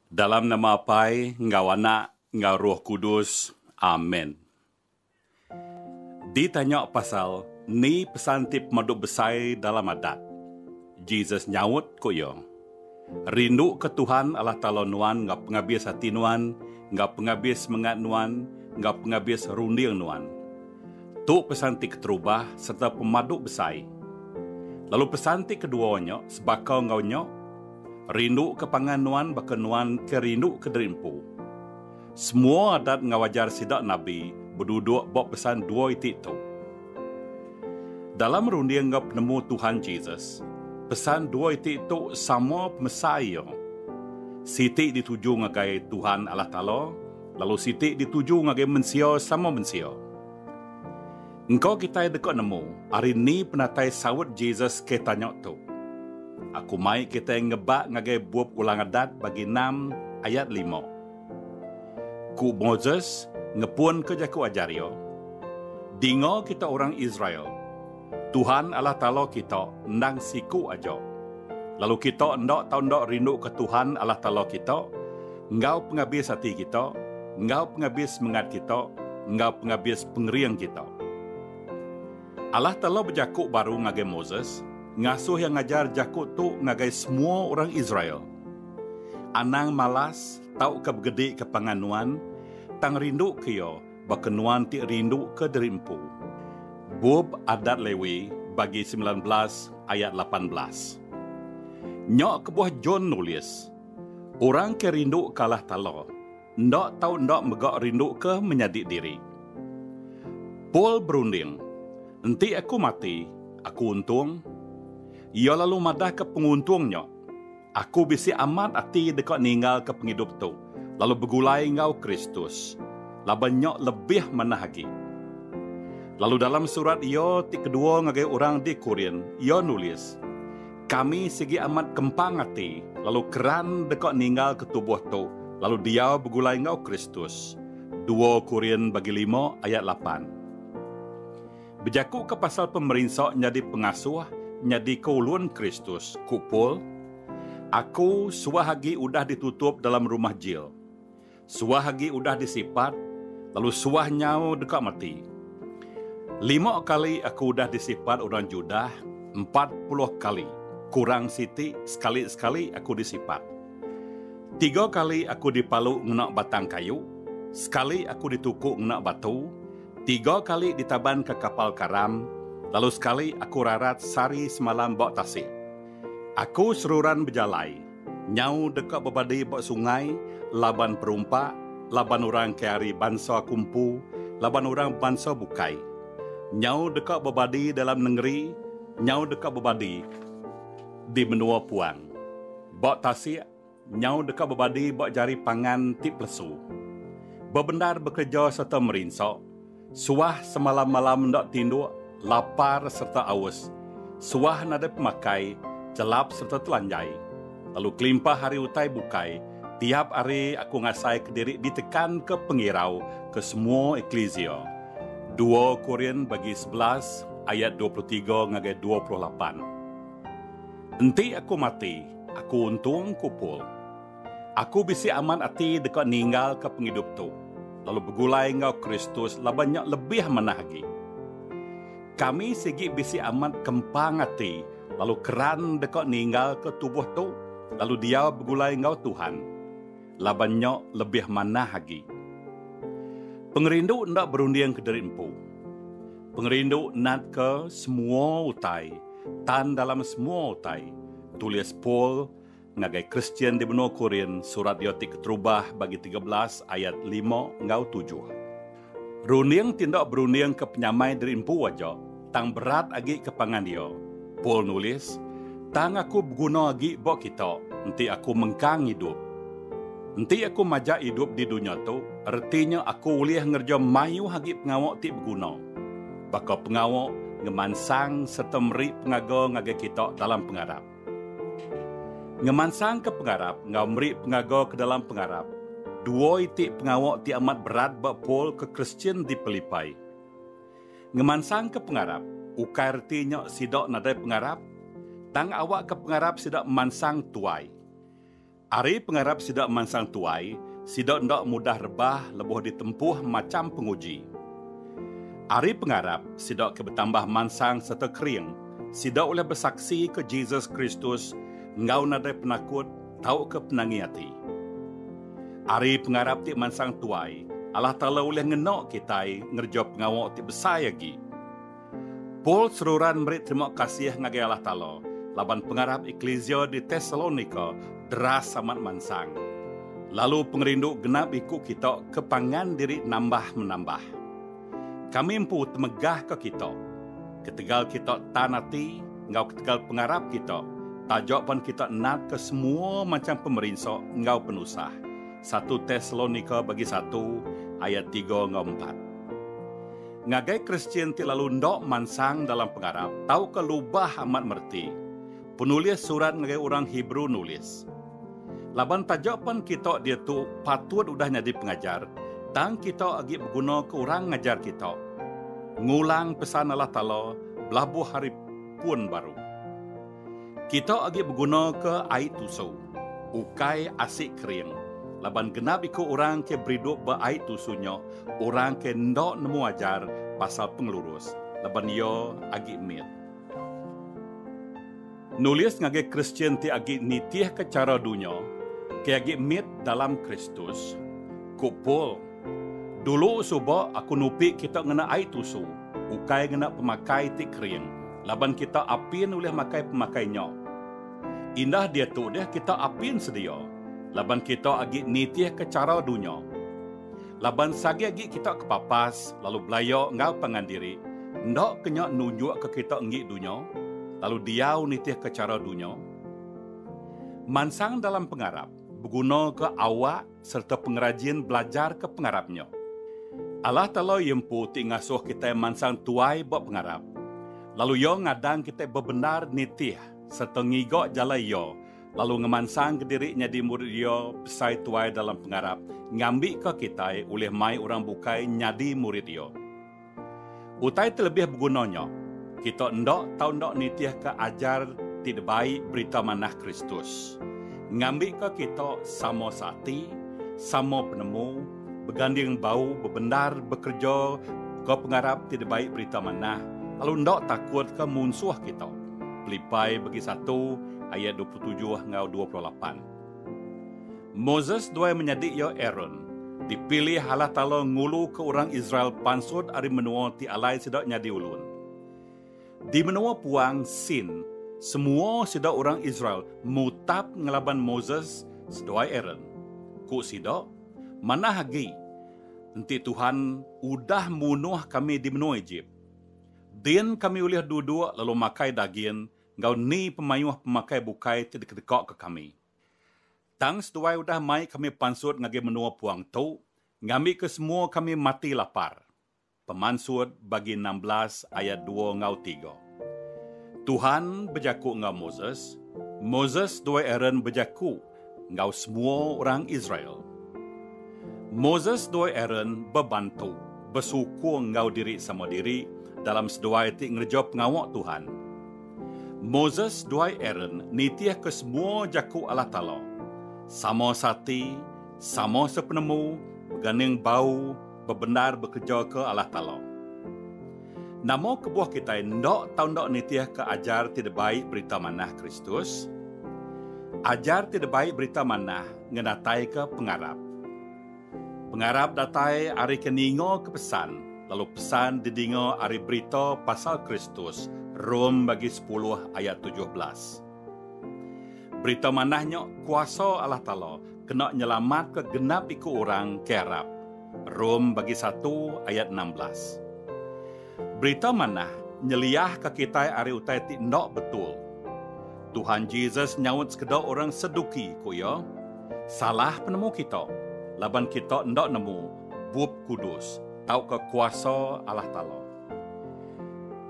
Dalam nama Apai enggau Anak enggau Roh Kudus. Amen. Ditanya pasal ni pesan ti pemadu besai dalam Adat, Jesus nyaut ku iya, Rinduka Tuhan Allah Taala nuan enggau pengabis ati nuan, enggau pengabis semengat nuan, enggau pengabis runding nuan. Tu pesan ti keterubah sereta pemadu besai. Lalu pesan ti kedua nya sebaka enggau nya? Rindu ke pangan nuan baka nuan ke rindu ke diri empu. Semua adat enggau ajar sida nabi beduduk ba pesan dua iti tu. Dalam runding enggau penemu Tuhan Jesus, pesan dua iti tu sama pemesai iya. Siti dituju ngagai Tuhan Allah Taala lalu siti dituju ngagai mensia sama mensia. Engka kitai deka nemu ari ni penatai saut Jesus ke tanya tu. Aku mai kitai ngebak ngagai bup Ulang Adat bagi enam ayat lima. Ku Moses ngepunka jaku ajar iya, Dinga kita orang Israel, Tuhan Allah Taala kita endang siku aja, lalu kita enda tau enda rinduka Tuhan Allah Taala kita, enggau pengabis ati kita, enggau pengabis semengat kita, enggau pengabis pengering kita. Allah Taala bejaku baru ngagai Moses, ngasuh iya ngajar jaku tu ngagai semua orang Israel, Anang malas tauka begedika pangan nuan, tang rinduka iya baka nuan ti rinduka diri empu. Bup Adat Lewi bagi semilan belas ayat lapan belas. Nya kebuah John nulis. Orang ke rindu kalah talo, enda tau enda mega rinduka menyadi diri. Paul berunding, Enti aku mati, aku untung? Iya lalu madahka penguntung nya, Aku bisi amat ati deka ninggalka pengidup tu lalu begulai enggau Kristus, laban nya lebih manah agi. Lalu dalam surat iya ti kedua ngagai orang di Korint, iya nulis, Kami sigi amat kempang ati lalu keran deka ninggalka tubuh tu lalu diau begulai enggau Kristus. Dua Korin bagi lima ayat lapan. Bejakuka pasal pemerinsa nyadi pengasuh nyadika ulun Kristus, ku Paul, Aku suah agi udah ditutup dalam rumah jil. Suah agi udah disipat, lalu suah nyau deka mati. Lima kali aku udah disipat orang Judah, empat puluh kali, kurang siti, sekali-sekali aku disipat. Tiga kali aku dipalu ngena batang kayu, sekali aku dituku ngena batu, tiga kali ditaban ka kapal karam, lalu sekali aku rarat sari semalam ba tasik. Aku seruran bejalai. Nyau deka bebadi ba sungai laban perumpak laban orang ke ari bansa aku empu laban orang bansa bukai. Nyau deka bebadi dalam nengeri, nyau deka bebadi di menua puang. Ba tasik, nyau deka bebadi ba jari pangan ti pelesu. Bebendar bekereja sereta merinsa, Suah semalam-malam enda tinduk, lapar sereta aus. Suah nadai pemakai, chelap sereta telanjai. Lalu kelimpah ari utai bukai, tiap hari aku ngasaika diri ditekanka pengirau ke semua eklisia. Dua Korin bagi sebelas ayat dua puluh tiga ngagai dua puluh lapan. Enti aku mati, aku untung, ku Paul. Aku bisi amat ati deka ninggalka pengidup tu lalu begulai enggau Kristus laban nya lebih manah agi. Kami sigi bisi amat kempang ati lalu keran deka ninggalka tubuh tu lalu diau begulai enggau Tuhan, laban nya lebih manah agi. Pengerindu enda berunding kediri empu. Pengerindu natka semua utai, tan dalam semua utai, tulis Paul, Ngagai Kristian di menua Korin, surat iya ti keterubah bagi tiga belas ayat lima enggau tujuh. Runding ti enda berundingka penyamai diri empu aja, tang berat agi ke pangan iya. Paul nulis, Tang aku beguna agi ba kita, enti aku mengkang idup. Enti aku majak idup di dunya tu, reti nya aku ulih ngereja mayuh agi pengawa ti beguna. Baka pengawa ngemansang sereta meri pengaga ngagai kita dalam pengarap. Ngemansangka pengarap enggau meri pengaga ke dalam pengarap, dua iti pengawa ti amat berat ba Paul ke Kristian di Pilipai. Ngemansangka pengarap ukai reti nya sida nadai pengarap, tang awakka pengarap sida mansang tuai. Ari pengarap sida mansang tuai, sida enda mudah rebah lebuh ditempuh macham penguji. Ari pengarap sida ke betambah mansang sereta kering, sida ulih besaksika Jesus Kristus enggau nadai penakut tauka penangi ati. Ari pengarap ti mansang tuai, Allah Taala ulih ngena kitai ngereja pengawa ti besai agi. Paul seruran meri terima kasih ngagai Allah Taala laban pengarap eklisia di Tesalonika deras amat mansang, lalu pengerindu genap iku kita ke pangan diri nambah menambah. Kami empu temegahka kita, ketegal kita tan ati enggau ketegal pengarap kita taja pan kita natka semua macham pemerinsa enggau penusah, satu Tesalonika bagi satu ayat tiga enggau empat. Ngagai Kristian ti lalu enda mansang dalam pengarap tauka lubah amat mereti, penulis surat ngagai orang Hebrew nulis, Laban taja pan kita diatu patut udah nyadi pengajar, tang kita agi begunaka orang ngajar kita, ngulang Pesan Allah Taala belabuh hari pun baru. Kita agi begunaka ai tusu, ukai asi kering, laban genap iku orang ke beridup ba ai tusu nya orang ke enda nemu ajar pasal pengelurus laban iya agi mit. Nulis ngagai Kristian ti agi nitihka chara dunya, ti agi mit dalam Kristus, ku Paul. Dulu suba aku nupi kita ngena ai tusu, ukai ngena pemakai ti kering laban kita apin ulih makai pemakai nya. Indah diatu deh kita apin sedia laban kita agi nitihka chara dunya. Laban sagi agi kita kepapas lalu belaya enggau pangan diri, enda ke nya nunjukka kita enggi dunya lalu diau nitihka chara dunya? Mansang dalam pengarap begunaka awak. sereta pengerajin belajarka pengarap nya. Allah Taala iya empu ti ngasuh kitai mansang tuai ba pengarap, lalu Iya ngadang kitai bebendar nitih sereta ngiga jalai Iya lalu ngemansangka diri nyadi murid Iya besai tuai dalam pengarap ngambika kitai ulih mai orang bukai nyadi murid Iya. Utai ti lebih beguna nya, kita enda tau enda nitihka ajar ti dibai Berita Manah Kristus, ngambika kita sama seati, sama penemu, beganding bau bebendar bekerejaka pengarap ti dibai Berita Manah, lalu enda takutka munsuh kita, Pelipai bagi satu ayat dua puluh tujuh enggau dua puluh lapan. Moses duai menyadi iya Aron, dipilih Allah Taala nguluka orang Israel pansut ari menua ti alai sida nyadi ulun. Di menua puang Sin, semua sida orang Israel mutap ngelaban Moses seduai Aron. Ku sida, Manah agi enti Tuhan udah munuh kami di menua Ejip! Din kami ulih duduk lalu makai dagin enggau ni pemayuh pemakai bukai ti dikedekaka kami. Tang seduai udah mai kami pansut ngagai menua puang tu ngambika semua kami mati lapar. Pemansut bagi enam belas ayat dua enggau tiga. Tuhan bejaku enggau Moses, Moses seduai Aaron bejaku. enggau semua orang Israel. Moses enggau Aaron bebantu besukung enggau diri sama diri dalam seduai ti ngereja pengawa Tuhan. Moses enggau Aaron nitihka semua jaku Allah Taala, sama seati, sama sepenemu, beganing bau, bebendar bekejoka alah talo. Nama kebuah kitai enda tau enda nitihka ajar ti debai Berita Manah Kristus? Ajar ti debai Berita Manah ngenataika pengarap. Pengarap datai ari ke ningaka pesan lalu pesan didinga ari berita pasal Kristus, Rom bagi sepuluh ayat tujuh belas. Berita manah nya kuasa Allah Taala kena nyelamatka genap iku orang ke arap, Rom bagi satu ayat enam belas. Berita manah nyeliahka kitai ari utai ti enda betul. Tuhan Jesus nyaut sekeda orang Seduki ku iya, Salah penemu kita, laban kita enda nemu Bup Kudus tauka kuasa Allah Taala.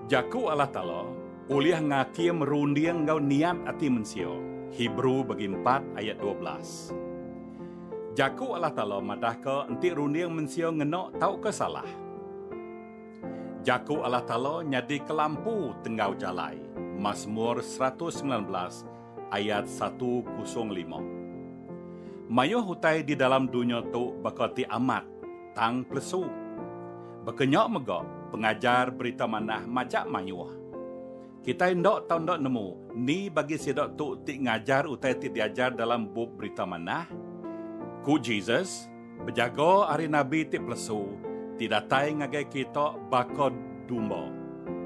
Jaku Allah Taala. Ulih ngakim runding enggau niat ati mensia, Hebrew bagi empat ayat dua belas. Jaku Allah Taala madahka enti runding mensia ngena tauka salah. Jaku Allah Taala nyadi kelampu tenggau jalai, Masmur seratus semilan belas ayat satu kosong lima. Mayuh utai di dalam dunya tu baka ti amat. tang pelesu. Baka nya mega pengajar Berita Manah majak mayuh. Kitai enda tau enda nemu ni bagi sida tu ti ngajar utai ti diajar dalam bup Berita Manah. Ku Jesus, Bejaga ari nabi ti pelesu, ti datai ngagai kita baka dumba,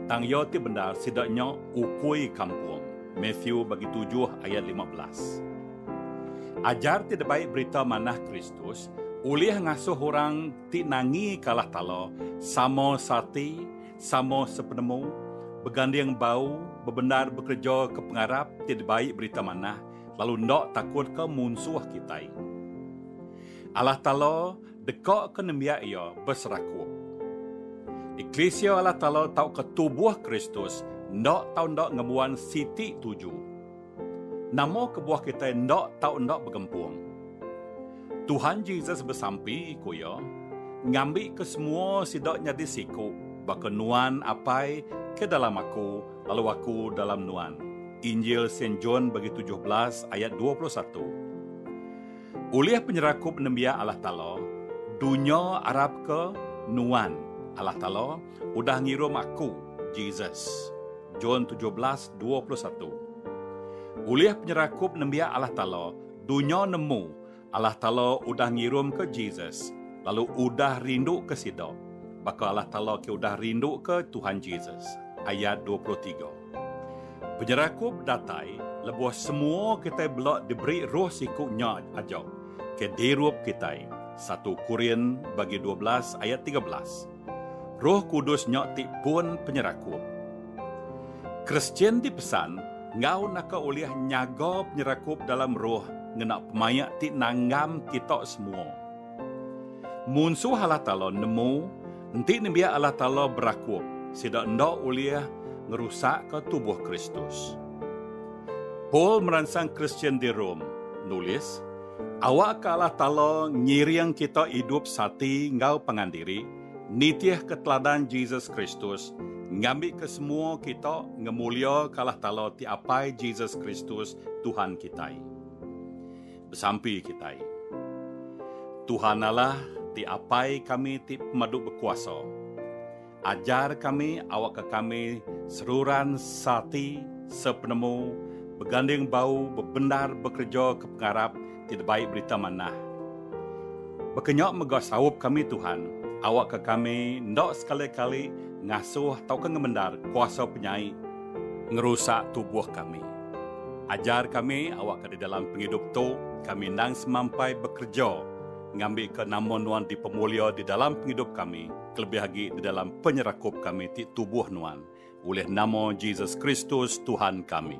tang iya ti bendar sida nya ukui kampung. Matthew bagi tujuh ayat lima belas. Ajar ti dibai Berita Manah Kristus ulih ngasuh orang ti nangi kalah tala sama seati, sama sepenemu, beganding bau, bebendar bekereja ke pengarap ti dibai Berita Manah lalu enda takutka munsuh kitai. Allah Taala dekaka nembiak Iya beserakup. Eklisia Allah Taala tauka tubuh Kristus enda tau enda ngembuan siti tuju. Nama kebuah kitai enda tau enda begempung? Tuhan Jesus besampi, ku iya, ngambika semua sida nyadi siku, baka Nuan, Apai, ke dalam Aku, lalu Aku dalam Nuan. Injil Sen John bagi tujuh belas ayat dua puluh satu. Ulih penyerakup nembiak Allah Taala, dunya arapka Nuan, Allah Taala, Udah ngirum aku, Jesus. John tujuh belas dua puluh satu Ulih penyerakup nembiak Allah Taala, dunya nemu Allah Taala udah ngirumka Jesus lalu udah rinduka sida, baka Allah Taala ke udah rinduka Tuhan Jesus. Ayat dua puluh tiga Penyerakup datai lebuh semua kitai bela diberi Roh siku nya aja ke dirup kitai. Satu Korin bagi dua belas ayat tiga belas. Roh Kudus nya ti pun penyerakup. Kristian dipesan enggau naka ulih nyaga penyerakup dalam roh ngena pemaik ti nanggam kita semua. Munsuh Allah Taala nemu enti nembiak Allah Taala berakup, sida enda ulih ngerusakka tubuh Kristus. Paul meransang Kristian di Rome nulis, Awakka Allah Taala ngiring kita idup seati enggau pangan diri, nitihka teladan Jesus Kristus, ngambika semua kita ngemuliaka Allah Taala ti Apai Jesus Kristus Tuhan kitai. Besampi kitai. Tuhan Allah ti Apai kami ti Pemadu Bekuasa. Ajar kami awakka kami seruran seati, sepenemu, beganding bau bebendar bekereja ke pengarap ti debai Berita Manah. Baka nya mega saup kami Tuhan, awakka kami enda sekali-kali ngasuh tauka ngemendar kuasa penyai ngerusak tubuh kami. Ajar kami awakka di dalam pengidup tu kami endang semampai bekereja ngambika nama Nuan dipemulia di dalam pengidup kami, kelebih agi di dalam penyerakup kami ti tubuh Nuan, ulih nama Jesus Kristus Tuhan kami.